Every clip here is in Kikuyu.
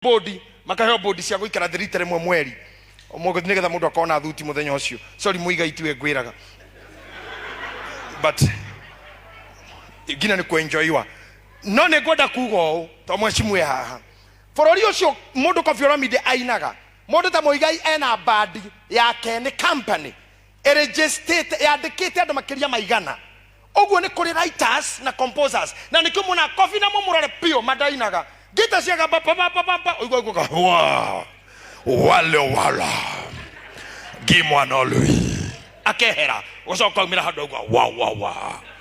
bodi makaheo bodi cia gũikara thĩ rita rĩmwe mweri mũgũthi nĩgetha mũndũ akona thuti mũthenya ũcio sorry mũiga itiwe ngwĩraga but nginya nĩ kwenjoiwa no nĩ ngwenda kuga ũũ to mwecimu e haha bũrũri ũcio mũndũ kobi oramide ainaga mũndũ ta mũigai ena bandi yake nĩ company ĩrĩgĩcitĩte yandĩkĩte andũ makĩria ma igana ũguo nĩ kũrĩ writers na composers na nĩkĩo muona kobi na mũmũrore piũ mandainaga ngita ciagamba papapapapa ũigua ũiguaga "Wa, wale wala gimwana lui akehera gũcoka aumĩra handũ aigua wa wa wa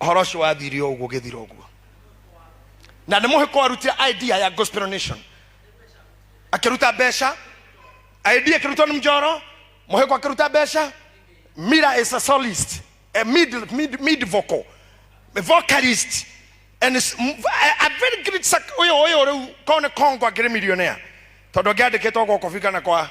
horo ũcio wathire o ũguo ũgĩthira ũguo na nĩ mũhĩko warutire idea ya gospel nation akĩruta mbeca idea akĩrutwo nĩ mjoro mũhĩko akĩruta mbeca mira is a solist a mid, mid, mid vocal a vocalist and is- m- a, a very great sac- ũyũ ũyũ rĩu korwo nĩ kongo akĩrĩ millionaire tondũ angĩandĩkĩtwo gwa kobi kana kwa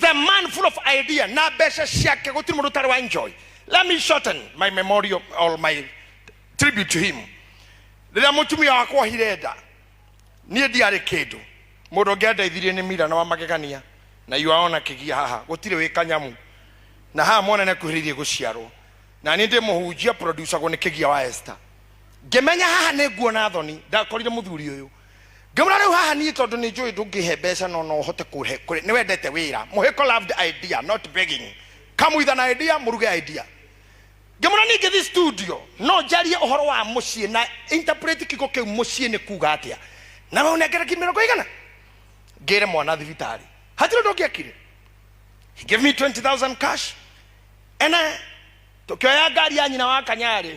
the man full of idea na mbeca ciake gũtirĩ mũndũ ũtarĩ wa enjoy let me shorten my memorial or my tribute to him rĩrĩa mũtumia wakwa ohire nda niĩ ndiarĩ kĩndũ mũndũ ũngĩ andeithirie nĩ mira na wa magegania na yuaona kĩgia haha gũtirĩ wĩ kanyamu na haha mwana nĩakuhĩrĩirie gũciarwo na niĩ ndĩ mũhunjia producagwo nĩ kĩgia wa esta ngĩmenya haha nĩ nguona thoni ndakorire mũthuri ũyũ ngĩmwĩra rĩu haha niĩ tondũ nĩ njũĩ ndũngĩhe mbeca no no ũhote kũhe kũrĩ- nĩ wendete wĩra mũhĩko loved idea not begging kamuitha na idea mũruge idea ngĩmwĩra niĩ ngĩthiĩ studio no njarie ũhoro wa mũciĩ na interpret kiugo kĩu mũciĩ nĩ kuga atĩa na we ũnengere ki mĩrongo igana ngĩre mwana thibitarĩ hatirĩ ũndũ ũngĩekire he gave me 20000 cash ene tũkĩoya ngari ya nyina wa kanyarĩ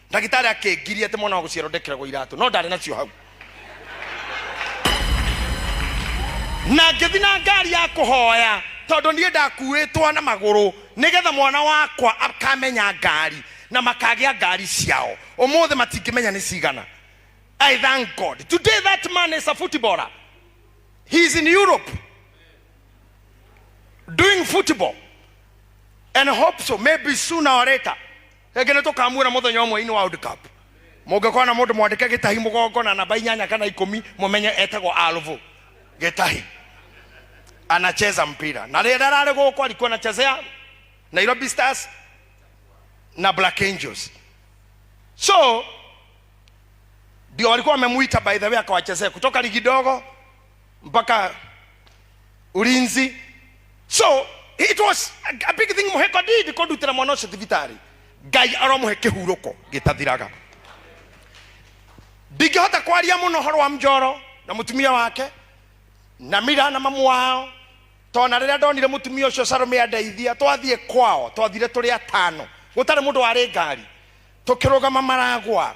ndagĩtarĩ akĩngiria atĩ mwana wa gũciarwo ndekeragwo iratũ no ndarĩ nacio hau na ngĩthi na ngari ya kũhoya tondũ niĩ ndakuĩtwo na magũrũ nĩgetha mwana wakwa akamenya ngari na makagĩa ngari ciao ũmũthĩ matingĩmenya nĩ cigana i thank god today that man is a footballer he is in europe doing football and hope so maybe sooner or later rĩngĩ nĩ tũkamuona mũthenya ũmwe-inĩ wa World Cup mũngĩkona mũndũ mwandĩke gĩtahi mũgongo na namba inyanya kana ikũmi mũmenye etagwo alvo gĩtahi anacheza mpira na rĩrĩa ararĩ gũkũ alikuwa anachezea nairobi stars na black angels so ndio walikuwa wamemuita by the way akawachezea kutoka ligi dogo mpaka ulinzi so it was a- a big thing muhe god did kundutira mwana ucio thibitarĩ ngai aromuhe kĩhurũko gĩtathiraga ndingĩhota kwaria mũno ũhoro wa mjoro na mũtumia wake na mira na mamu wao tona rĩrĩa ndonire mũtumia ũcio sarome andeithia twathiĩ kwao twathire tũrĩ atano gũtarĩ mũndũ warĩ ngari tũkĩrũgama maragwa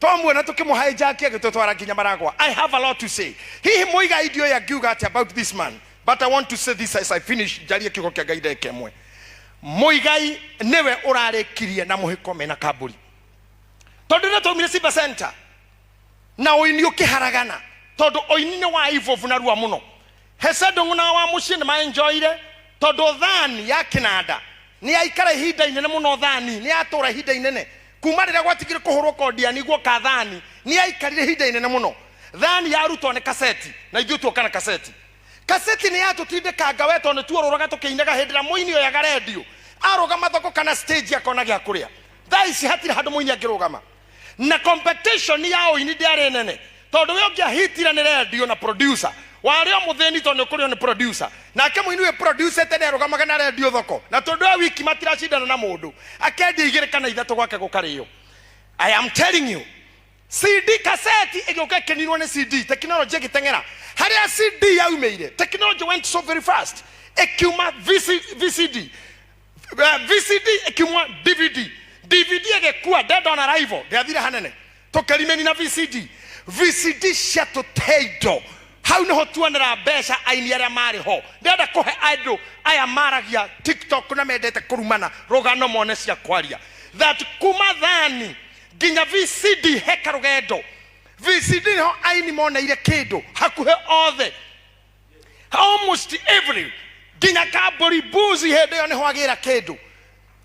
Twamuona tũkĩmũhaĩ njaki agĩtũtwara nginya maragwa. I have a lot to say. Hihi mũigai ndioĩ angiuga atĩa about this man but I want to say this as I finish njarie kiugo kĩa Ngai ndagĩka ĩmwe. Mũigai nĩwe ũrarĩkirie na mũhĩko mena kambũri. Tondũ nĩ twaumire Simba Center na ũini ũkĩharagana tondũ ũini nĩ wa ivovu na rua mũno. Hesed ng'na wa mũciĩ nĩ maenjoire, tondũ thaani ya kĩnanda nĩ yaikara ihinda inene mũno, thaani nĩ yatũũra ihinda inene. Kuuma rĩrĩa gwatigire kũhũrwo kondiani guoka thaani, nĩ yaikarire ihinda inene mũno. Thaani yarutwo nĩ kaseti, na ithuĩ tuoka na kaseti. Kaseti nĩ yatũtindĩkanga we tondũ nĩ tuorũraga tũkĩinaga hĩndĩ ĩrĩa mũini oyaga rendio, arũgama thoko kana stage akona gĩa kũrĩa. Thaa ici hatirĩ handũ mũini angĩrũgama. na competition ya ũini ndĩarĩ nene tondũ we ũngĩahitire nĩ rendio na producer warĩ o mũthĩni tondũ nĩũkũrĩo nĩ producer nake mũini wĩ producete nĩ arũgamaga na rendio thoko na tondũ e wiki matiracindana na mũndũ akendia igĩrĩ kana ithatũ gwake gũkarĩo i am telling you cd kaseti ĩgĩũka ĩkĩninwo nĩ cd tekinoronjĩ ĩgĩteng'era harĩa cd yaumĩire tekinoronjĩ went so very fast ĩkiuma VC, vcd Eh, vcd ĩkimwa dvd dvd ĩgĩkua dead on arrival ndĩathire hanene tũkĩrimeni na vcd vcd ciatũte indo hau nĩho tuonera mbeca aini arĩa marĩ ho ndĩrenda kũhe andũ aya maragia tiktok na mendete kũrumana rũgano mone cia kwaria that kuma thani nginya vcd heka rũgendo vcd nĩho aini moneire kĩndũ hakuhĩ othe almost every nginya kambori buzi hĩndĩ ĩyo nĩho agĩra kĩndũ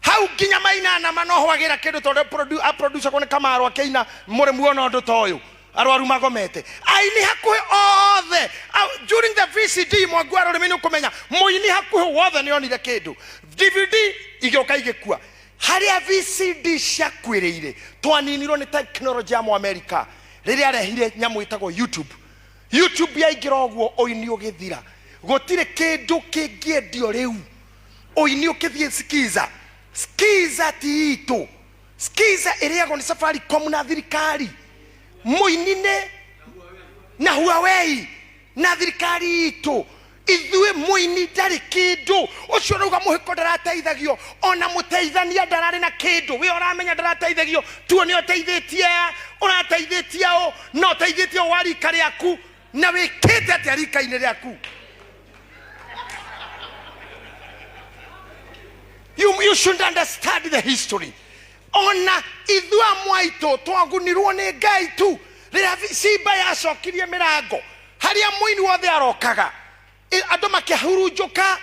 hau nginya mainana manoho agĩra kĩndũ tondũ produ- a producer ko nĩ kamaro akĩina mũrĩ muona ũndũ ta ũyũ arwaru magomete aini hakuhĩ othe au- during the vcd mwangu wa rũrĩmĩ nĩ ũkũmenya mũini hakuhĩ wothe nĩ onire kĩndũ dvd igĩũka igĩkua harĩa vcd ciakuĩrĩire twaninirwo nĩ tekinoronjĩ ya mũamerica rĩrĩa arehire nyamũ ĩtagwo youtube YouTube yaingĩra ũguo ũini ũgĩthira gũtirĩ kĩndũ kĩngĩendio rĩu ũini ũkĩthiĩ skiza skiza ti itũ skiza ĩrĩagwo nĩ safaricom na thirikari mũini nĩ na huawei na thirikari itũ ithuĩ mũini ndarĩ kĩndũ ũcio ũrauga mũhĩko ndarateithagio ona mũteithania ndararĩ na kĩndũ we ũramenya ndarateithagio tuone ũteithĩtie a ũrateithĩtie ũ na ũteithĩtie ũ wa rika rĩaku na wĩkĩte atĩa rika-inĩ rĩaku you, you should understand the history ona ithuĩ amwe aitũ twagunirwo nĩ ngai tu rĩrĩa simba yacokirie mĩrango harĩa mũini wothe arokaga ĩ- andũ makĩhurunjũka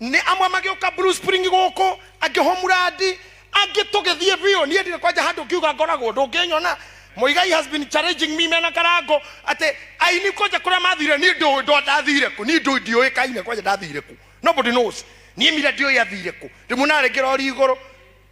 nĩ amwe magĩũka Blue Spring gũkũ angĩ homurandi angĩ tũgĩthiĩ biũ niĩ ndirĩ kwanja handũ ngiuga ngoragwo ndũngĩnyona Muigai has been challenging me mena karango atĩ aini kwanja kũrĩa mathire niĩ ndũĩ ndwa ndathire kũ niĩ ndũĩ ndiũĩkaine kwanja ndathire kũ nobody knows niĩ mira ndiũĩ athire kũ ndĩmuonaga rĩngĩ rori igũrũ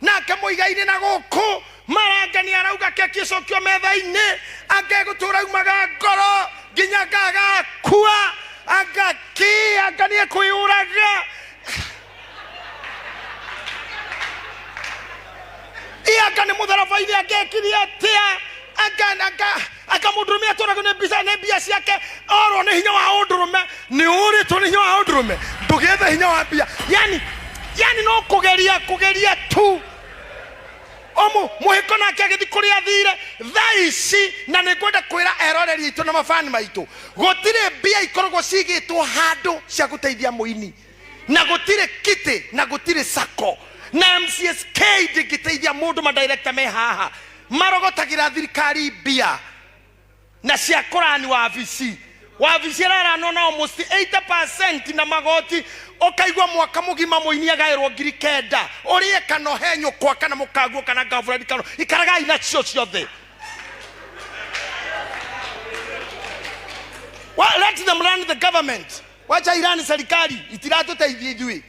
nake mũigainĩ na gũkũ maranga nĩ arauga keki ĩcokio metha-inĩ angegũtũra aumaga ngoro nginya ngagakua angaki anga nĩ ekwĩyũraga ianga nĩ mũtharaba-inĩ angekirie atĩa anga anga akamũndũrũmia tũra nĩ mbica nĩ mbia ciake orwo nĩ hinya wa ũndũrũme nĩ ũrĩtwo nĩ hinya wa ũndũrũme ndũgethe hinya wa mbia yani yani no kũgeria kũgeria tu ũmũ mũhĩko nake agĩthi kũrĩa athire thaa ici na nĩ ngwenda kwĩra eroreri aitũ na mabani maitũ gũtirĩ mbia ikoragwo cigĩtwo handũ cia gũteithia mũini na gũtirĩ kiti na gũtirĩ sako na mcsk ndĩngĩteithia mũndũ madirekta me haha marogotagĩra thirikari mbia na cia kũrani wabici wabici ĩraranwo nao mũci 80 na magoti ũkaigua mwaka mũgima mũini agaĩrwo ngiri kenda ũrĩe kana ũhe nyũkwa kana mũkaguo kana ngabũrani kana ikaragai nacio ciothe Well, let them run the government wacha irani serikali itiratuteithia ithui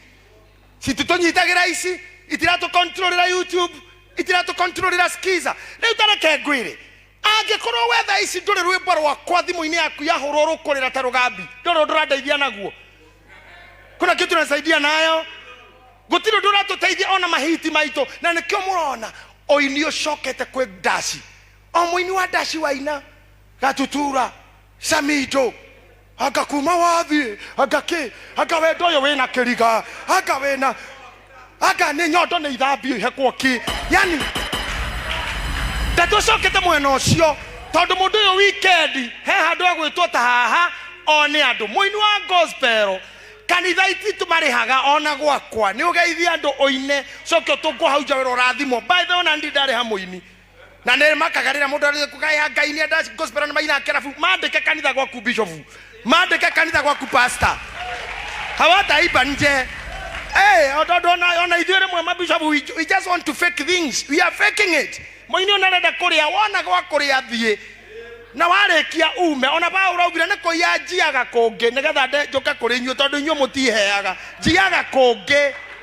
cititunyitagira ici itiratukontrolera youtube itiratukontrolera skiza riu tareke ngwire angĩkorwo we thaa ici ndũrĩ rwĩmbo rwakwa thimũ-inĩ yaku yahũrwo rũkũrĩra ta rũgambi ndũrĩ ũndũ ũrandeithia naguo kuna kitu nasaidia nayo gũtirĩ ũndũ ũratũteithia ona mahiti maitũ na nĩkĩo mũrona ũini ũcokete kwĩ ndaci o mũini wa ndaci waina gatutura samido anga kuma wathiĩ anga kĩ anga wendo ũyũ wĩna kĩriga anga wĩna anga nĩ nyondo nĩ ithambio ihekwo ki yani ndeto cokete mwena ũcio tondũ mũndũ ũyũ wikendi he handũ agwĩtwo ta haha one andũ mũini wa gospel kanitha ititũ marĩhaga ona gwakwa nĩ ũgeithie andũ ũine coke ũtũngwo hau nja wĩra ũrathimwo by the way ona ndirĩ ndarĩha mũini na nä makaga rä rä a må ndå kugaya ngai nä enda gospel nä maina kerabu mandäke kanitha gwaku bishop mandäke kanitha gwaku pastor hawataiba nje Hey, ododo ona ona ithuĩ rĩmwe mabishop we, we just want to fake things we are faking it mũini ona arenda kũrĩa wona gwa kũrĩa thiĩ na warĩkia ume ona paũra augire nĩ kũiya njiaga kũngĩ nĩgetha nde- njũke kũrĩ inyuĩ tondũ inyuĩ mũtiheaga njiaga kũngĩ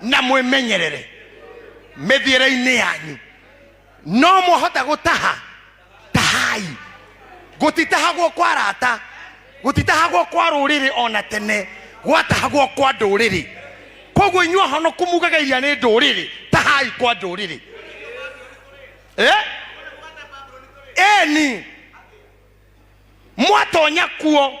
na mwĩmenyerere mĩthiĩre-inĩ yanyu no mũhota gũtaha tahai gũtitahagwo kwa rata gũtitahagwo kwa rũrĩrĩ ona tene gwatahagwo kwa ndũrĩrĩ koguo inyuĩ ahonoku mugaga iria nĩ ndũrĩrĩ tahai kwa ndũrĩrĩ eh? eni mwatonya kuo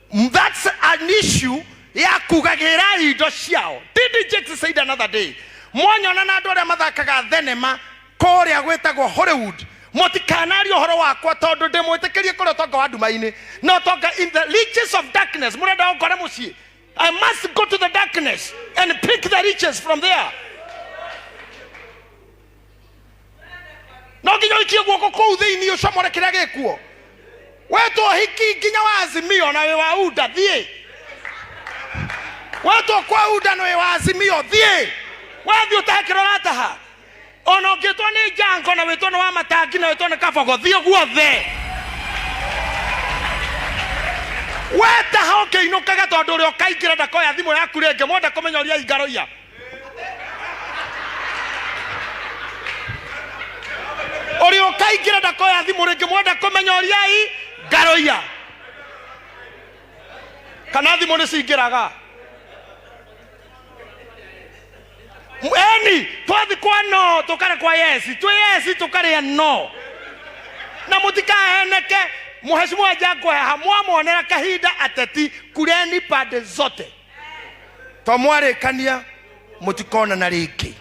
Mm, That's an issue ya kugagĩra indo ciao. Didn't Jake said another day. Mwanyona na andũ arĩa mathakaga thenema kũrĩa gwĩtagwo Hollywood. Mũtikanarie ũhoro wakwa tondũ ndĩmwĩtĩkĩrie kũrĩa ũtonga wa nduma-inĩ. No ũtonga in the riches of darkness. Mũrenda ũkore mũciĩ. I must go to the darkness and pick the riches from there. no nginya ũikie guoko kũu thĩinĩ ũcomore kĩrĩa gĩkuo wetwo hiki nginya wa azimio na wĩ wa unda thiĩ wetwo kwa unda na wĩ wa azimio thiĩ wathiĩ ũtahe kĩrĩa ũrataha ona ũngĩtwo nĩ njango na wĩtwo nĩ wa matangi na wĩtwo nĩ kabogo thiĩ guothe wetaha ũkĩinũkaga tondũ ũrĩa ũkaingĩra ndakoya thimũ yaku rĩngĩ mwenda kũmenya ũria ingaroia ũrĩ ũkaingĩra ndakoya thimũ rĩngĩ mwenda kũmenya ũriai ngaroia kana thimũ nĩ cingĩraga eni twathi kwa no tũkare kwa yesi twĩ yesi tũkarĩa no na mũtikaheneke mũhecimwa njakwaya hamwamonera kahinda ateti kureni pande zote to mwarĩkania mũtikonana rĩngĩ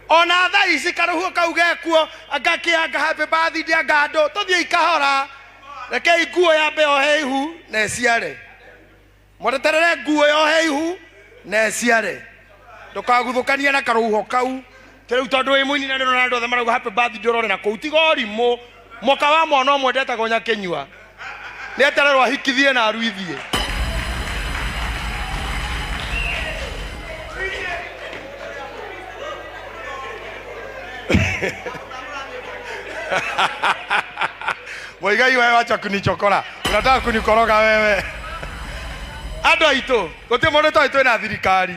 ona thaa ici karũhuo kau gekuo ngakĩanga happy birthday anga andũ tũthiei kahora rekei nguo yambe yohe ihu na ĩciare mweteterere nguo yohe ihu na ĩciare ndũkaguthũkania na karũhuho kau ta rä u tondå wä må ini na rä rona andå othe marauga happy birthday ndårore na kå u tiga å rimå moka wa mwana å mwe ndetagwo nyakä nyua nä etererwo ahikithie na aruithie Muigai wewe wacha kunichokora. Unataka kunikoroga wewe. Andũ aitũ, gũtirĩ mũndũ tũĩ twĩ na thirikari.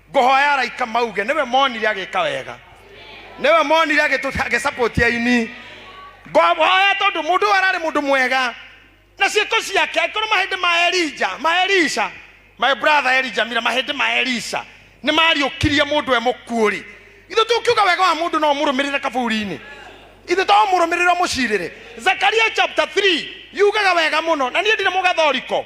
ngũhoya araika mauge nĩwe monire agĩka wega nĩwe monire agĩtũ- agĩsapoti aini ngũhoya tondũ mũndũ ũyũ ararĩ mũndũ mwega na ciĩko ciake angĩkorwo mahĩndĩ ma elija ma elisha my brother elija mira mahĩndĩ ma elisha nĩ mariũkirie mũndũ e mũkuũ-rĩ ithu tũkiuga wega wa mũndũ no mũrũmĩrĩre kaburi-inĩ ithu to mũrũmĩrĩre mũcirĩre zakaria chapter 3 yugaga wega mũno na niĩ ndirĩ mũgathoriko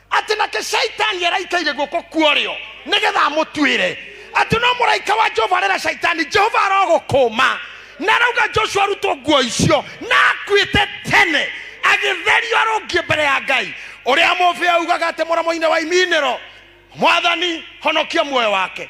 atĩ nake shaitani araikaire guoko kuorĩo nĩgetha amũtuĩre atĩ no mũraika wa jehova arera shaitani jehova arogũkũma na arauga joshua arutwo nguo icio na akuĩte tene agĩtherio arũngie mbere ya ngai ũrĩa mũbĩa ugaga atĩ mũromo-inĩ wa iminĩro mwathani honokia muoyo wake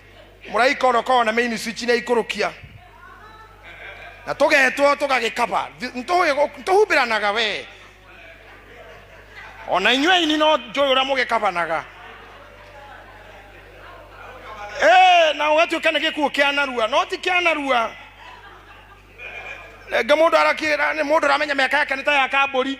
mũraika ũrĩa ũkoragwo na main switch nĩ aikũrũkia na tũgetwo tũgagĩkaba tũhumbĩranaga we ona inyuĩ aini no njũĩ ũrĩa mũgĩkabanaga Eh, na ũgatuĩka nĩ gĩkuũ kĩa narua no ti kĩa narua rĩngĩ mũndũ arakĩra nĩ mũndũ ũramenya mĩaka yake nĩ ta ya kambũri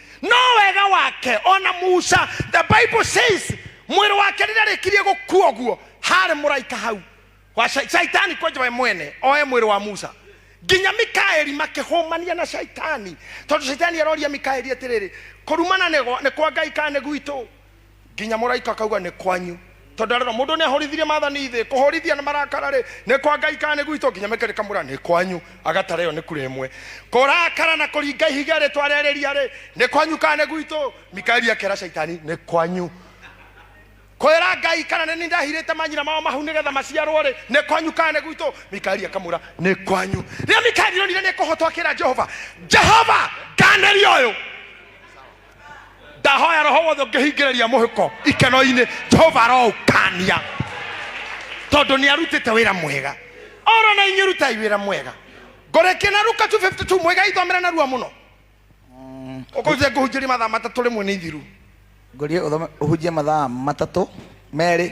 no wega wake ona musa the bible says mwĩrĩ wake rĩrĩa rĩkirie gũkua ũguo harĩ mũraika hau wa Shai- shaitani kwenja we mwene oe mwĩrĩ wa musa nginya mikaeli makĩhũmania na shaitani tondũ shaitani aroria mikaeli atĩrĩrĩ kũrumana nĩ gwa- nĩ kwa ngai kana nĩ gwitũ nginya mũraika akauga nĩ kwanyu tondũ arĩro mũndũ nĩ ahorithirie mathani thĩ kũhorithia na marakara rĩ nĩ kwa ngai kana nĩ gwitũ nginya mĩkĩrĩ kamũra nĩ kwanyu agatara ĩyo nĩ kura ĩmwe kũrakara na kũringa ihiga rĩtwa rĩa rĩria rĩ nĩ kwanyu kana nĩ gwitũ mikaeli akera caitani nĩ kwanyu kwĩra ngai kana nĩ nindahirĩte manyina mao mahu nĩgetha maciarwo rĩ nĩ kwanyu kana nĩ gwitũ mikaeli akamũra nĩ kwanyu rĩrĩa mikaeli onire nĩ kũhotwo akĩra jehova jehova nganĩria ũyũ ndahoya roho wothe ũngĩhingĩrĩria mũhĩko ikeno-inĩ jehova aroũkania tondũ nĩ arutĩte wĩra mwega oro na inyuĩ rutai wĩra mwega ngoreke na ruka 252 mwega ithomera narua mũno ũkũnje ngũhunjĩria mathaa matatũ rĩmwe nĩ ithiru ngorie ũthome ũhunjie mathaa matatũ merĩ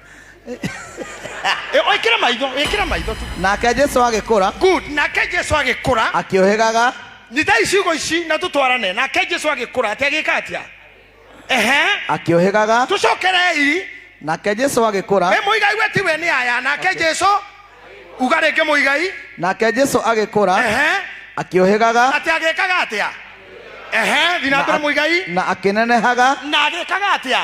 Eh, wĩkĩre maitho wĩkĩre maitho tu nake jesu agĩkũra good nake jesu agĩkũra akĩũhĩgaga nyita icigo ici na tũtwarane nake jesu agĩkũra atĩ agĩka atĩa ehe akĩũhĩgaga tũcokerei nake jesu agĩkũra we mũigai we tiwe nĩ aya nake jesu uga rĩngĩ mũigai nake jesu agĩkũra ehe akĩũhĩgaga atĩ agĩkaga atĩa ehe thiĩ na mbere mũigai na akĩnenehaga na agĩkaga atĩa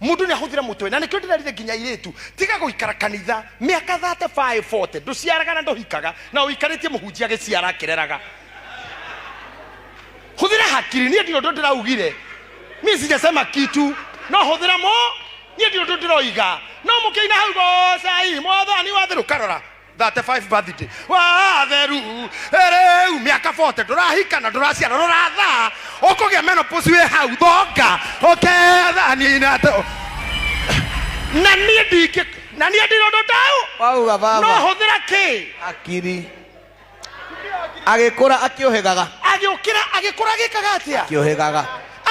mundu ni ahuthire mutwe na nikio ndirarire nginya iritu tiga guikara kanitha miaka 35 40 nduciaraga na nduhikaga na uikaritie muhunjia giciara akireraga huthira hakiri nie ndio ndo ndiraugire mi sijasema kitu no huthira mo nie ndio ndo ndiroiga no mukiina hau gocai mwathani wathiru karora 35 birthday watheru rĩu mĩaka 40 ndũrahika na ndũraciara ndũrathaa ũkũgĩa menopause wĩ hau thonga ũkethanina to na niĩ ndingĩ na niĩ ndirondũ tau wauga no baba hũthĩra kĩ akiri agĩkũra akĩũhĩgaga agĩũkĩra agĩkũra agĩkaga atĩa akĩũhĩgaga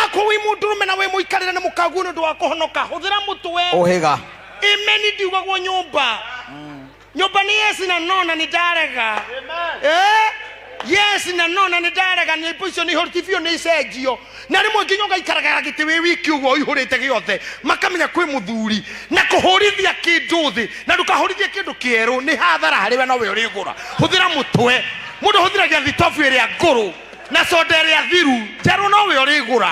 akorwo wĩ mũndũrũme na wĩ mũikarĩre nĩ mũkaguo nĩ ũndũ wa kũhonoka hũthĩra mũtwe ũhĩga imeni ndiwagwo nyũmba nyũmba nĩ yesi na nona nĩ ndarega Eh, yes na nona nĩ ndarega nĩ ipo icio nĩ ihoriti biũ nĩ icenjio na rĩmwe nginya ũgaikaraga gĩtĩ wĩ wiki ũguo ũihũrĩte gĩothe makamenya kwĩ mũthuri na kũhũrithia kĩndũ thĩ na ndũkahũrithie kĩndũ kĩerũ nĩ hathara harĩ we nowe ũrĩgũra hũthĩra mũtwe mũndũ hũthĩragia thitobu ĩrĩa ngũrũ na soda ĩrĩa thiru njerũ nowe ũrĩgũra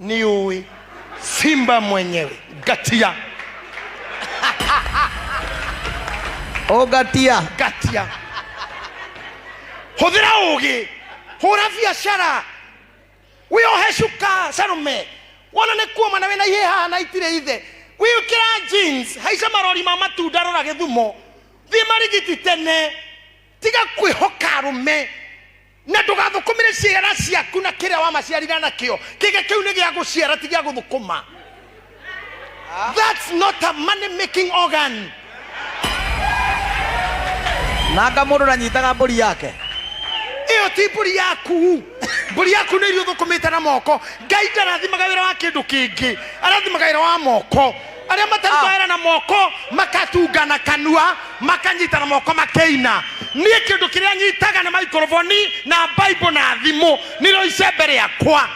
niui simba mwenyewe gatia Ogatia. gatia hũthĩra ũgĩ hũra biacara wĩohe cuka sarume wona nĩ kuoma na wĩna ihĩ haha na itirĩ ithe wĩkĩra jeans haica marori ma matunda rora gĩthumo thiĩ marigiti tene tiga kwĩhoka arũme na ndũgathũkũmĩre ciara ciaku na kĩrĩa wamaciarire nakĩo kĩga kĩu nĩ gĩa gũciara ti gĩa gũthũkũma that's not a money making organ nanga mũndũ nanyitaga mbũri yake ĩyo ti mbũri yaku mbũri yaku nĩ iria ũthũkũmĩte na moko ngai ndarathimaga wĩra wa kĩndũ kĩngĩ arathimaga wĩra wa moko arĩa matarĩ Ah. kwahera na moko makatunga na kanua makanyita na moko makeina niĩ kĩndũ kĩrĩa nyitaga nĩ maikoroboni na baibo na thimũ nĩrĩo icembe rĩakwa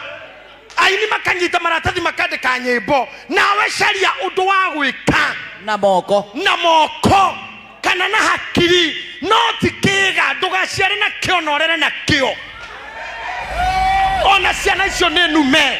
aini makanyita maratathi makandĩka nyĩmbo nawe caria ũndũ wa gwĩka na moko na moko kana na hakiri no ti kĩga ndũgaciare na kĩo na ũrere na kĩo ona ciana icio nĩ nume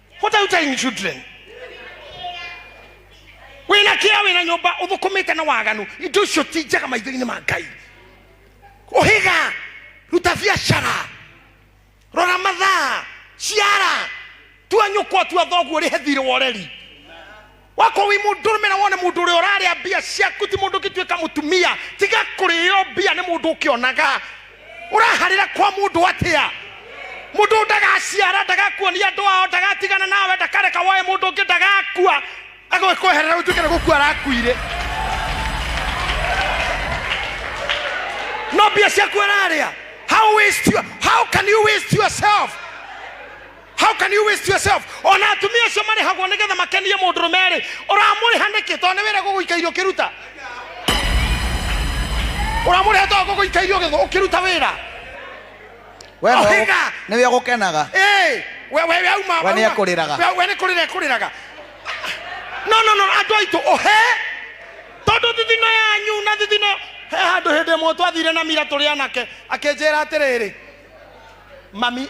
what are you telling children wĩna kĩa wĩna nyũmba ũthũkũmĩte na waganu indo icio ti njega maitho-inĩ ma ngai ũhĩga ruta biacara rora mathaa ciara tua nyũkwa tua thoguo rĩhe thirĩ wa ũreri wako wi mundu rume na wone mundu uria uraria mbia ciaku ti mundu ngituika mutumia tiga kurio mbia ni mundu ukionaga uraharira kwa mundu atia mundu ndagaciara ndagakuonia andu ao ndagatigana nawe ndakareka woe mundu ungi ndagakua agwikweherera utuike ni gukua arakuire no mbia ciaku araria how waste your, how can you waste yourself how can you waste yourself ona atumia acio marĩhagwo nĩgetha makenie mũndũrũme rĩ ũramũrĩha nĩkĩ tondũ nĩwĩra gũgũika irio ũkĩruta ũramũrĩha tondũ gũgũika irio ũgĩgũ- ũkĩruta wĩra we nĩwe Ohinga. ũgũ- nĩwe ũgũkenaga Hey, we we we auma We nĩ auma. ekũrĩraga. We- we nĩ kũrĩra ekũrĩraga no no no andũ aitũ ũhe tondũ thithino yanyu na thithino he handũ hĩndĩ ĩmwe twathire na mira tũrĩ anake akĩnjĩra atĩrĩrĩ mami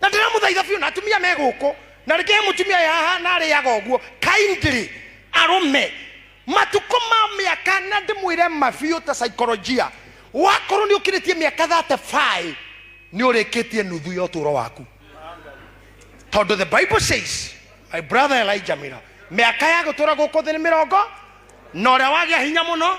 na ndĩramũthaitha biũ na atumia me gũkũ na rĩngĩ he mũtumia yaha na arĩaga ũguo kindly arũme matukũ ma mĩaka na ndĩmwĩre mabiũ ta saikolojia wakorwo nĩ ũkĩrĩtie mĩaka 35 nĩ ũrĩkĩtie nuthu ya ũtũũro waku tondũ the bible says my brother elijah mira mĩaka ya gũtũra gũkũ thĩ nĩ mĩrongo na ũrĩa wagĩa hinya mũno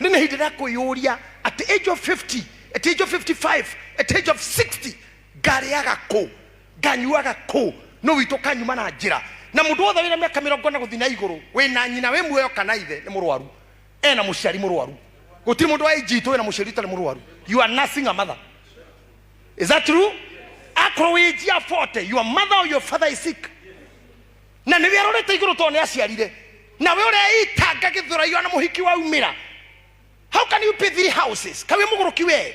ne na hidira kuyuria at the age of 50 at the age of 55 at the age of 60 ngariaga kũ nganyuaga kũ no witũ kanyuma na njĩra na mũndũ wothe wĩna mĩaka mĩrongo na gũthiĩ na igũrũ wĩna nyina wĩ muoyo kana ithe nĩ mũrwaru ena mũciari mũrwaru gũtirĩ mũndũ wa age itũ wĩna mũciari ũtarĩ mũrwaru you are nursing a mother is that true akorwo wĩ njia 40 your mother or your father is sick na nĩwe arorete igũrũ tondũ nĩ aciarire nawe ũreitanga gĩthũraio na mũhiki waumĩra how can you pay three houses kawe mũgũrũki wee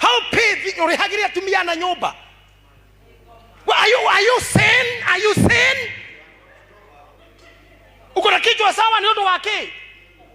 how pay thi- ũrĩhagĩre atumia na nyũmba Well, are you, are you sane? Are you sane? uko na kichwa sawa ni ũndũ wa kĩ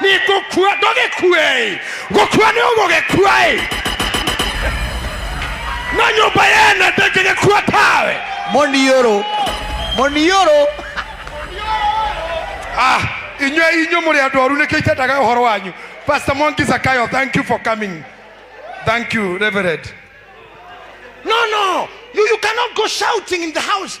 nĩ ngũkua ndũgĩkue-ĩ gũkua nĩ ũgũgĩkua-ĩ no nyũmba yene ndĩngĩgĩkua tawe Muniuru. Muniuru. ah inyuĩ inyuĩ mũrĩ andũ oru nĩkĩ itendaga ũhoro wanyu pastor mongi zakayo thank you for coming thank you reverend No, no, you, you cannot go shouting in the house.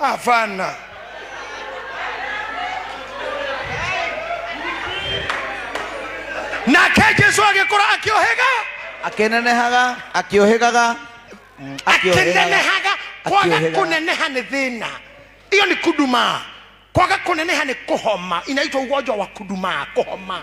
Hapana. nake jesu agĩkũra akĩohĩga akĩnenehaga akĩũhĩgaga mm, akĩũhĩgaga. akĩnenehaga kwaga Akĩũhĩgaga. kũneneha nĩ thĩna iyo nĩ kudumaa kwaga kũneneha nĩ kũhoma inaitwa ugonjwa wa kudumaa kũhoma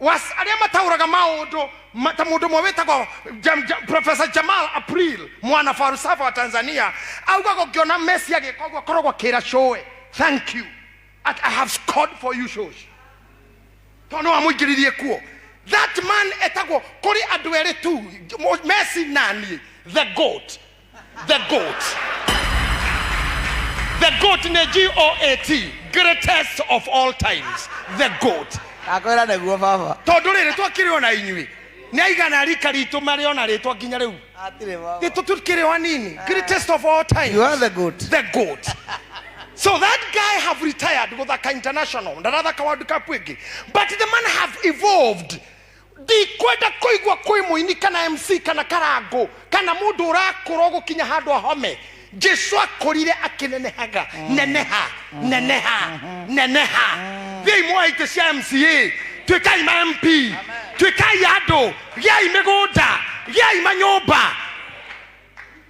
was arĩa mataũraga maũndũ ma- ta mũndũ ũmwe wĩtagwo Jam- Jam- professor jamal april mwana falsafa wa tanzania augaga ũngĩona messi agĩka ũguo koragwo kĩra shoe thank you I, i have scored for you shows tondũ no amũingĩririe kuo that man etagwo kũrĩ andũ erĩ tu Mo- messi naniĩ the goat the goat. The goat nĩ G-O-A-T, greatest of all times, the goat. akwĩra nĩguo baba Tondũ rĩrĩ twakĩrĩ ona inyuĩ, nĩ aigana rika ritũ marĩ ona rĩtwa nginya rĩu. atirĩ baba Gitũ tukĩrĩ o anini, greatest of all times. you are the good the goat. So that guy have retired Guthaka International, Ndathaka World Cup ĩngĩ. But the man have evolved. ndikwenda kũigua kwĩ mũini kana mc kana karangũ kana mũndũ ũrakũrwo gũkinya handũ ahome jesu akũrire akĩnenehaga neneha neneha neneha thiai mwoe itĩ cia mca tuĩkai ma mp tuĩkai andũ gĩai mĩgũnda gĩai manyũmba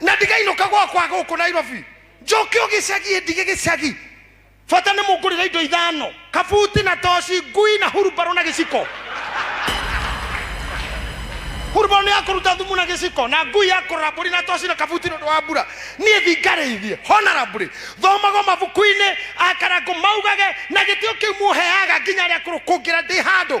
na ndigainũka gwakwa gũkũ nairobi njoke o gĩcagi ndige gĩcagi bata nĩ mũngũrĩra indo ithano kabuti na toci ngui na hurumbarũ na gĩciko hurumbarũ nĩ yakũruta thumu na gĩciko na ngui ya kũrora mbũri na toci na kabuti nĩ ũndũ wa mbura niĩ thingarĩithie honara mbũri thomago mabuku-inĩ akarangũ maugage na gĩtĩo kĩu muheaga nginya rĩa kũrũkũngĩra ndĩ handũ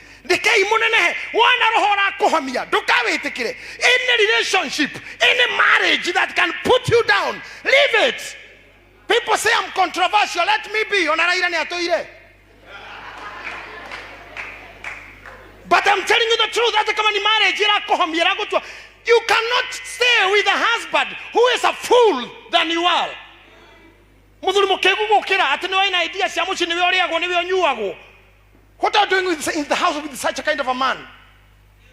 rekei mũnenehe wona roho ũrakũhamia ndũkawĩtĩkĩre any relationship any marriage that can put you down leave it people say I'm controversial let me be ona raira nĩ atũire but I'm telling you the truth hata kama ni marriage ĩrakũhamia ĩragũtua you cannot stay with a husband who is a fool than you are muthuri mukigu gukira ati ni waina idea cia mucii niwe uriagwo niwe unyuagwo what are you doing with, in the house with such a kind of a man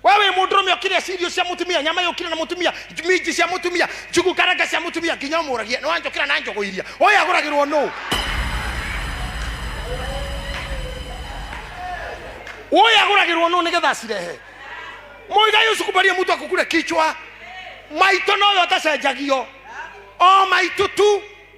wewe mũndũrũme ũkĩrĩa cirio cia mũtumia nyama yũkĩra na mũtumia minji cia mũtumia njugu karanga cia mũtumia nginya ũmũragia nĩwanjũkĩra na njũgũ iria ũyũ agũragĩrwo nũ ũyũ agũragĩrwo nũ nĩgetha acirehe mũigai ũcukumbarie mũtu akũkure kichwa maitũ noyo atacenjagio o maitũ tu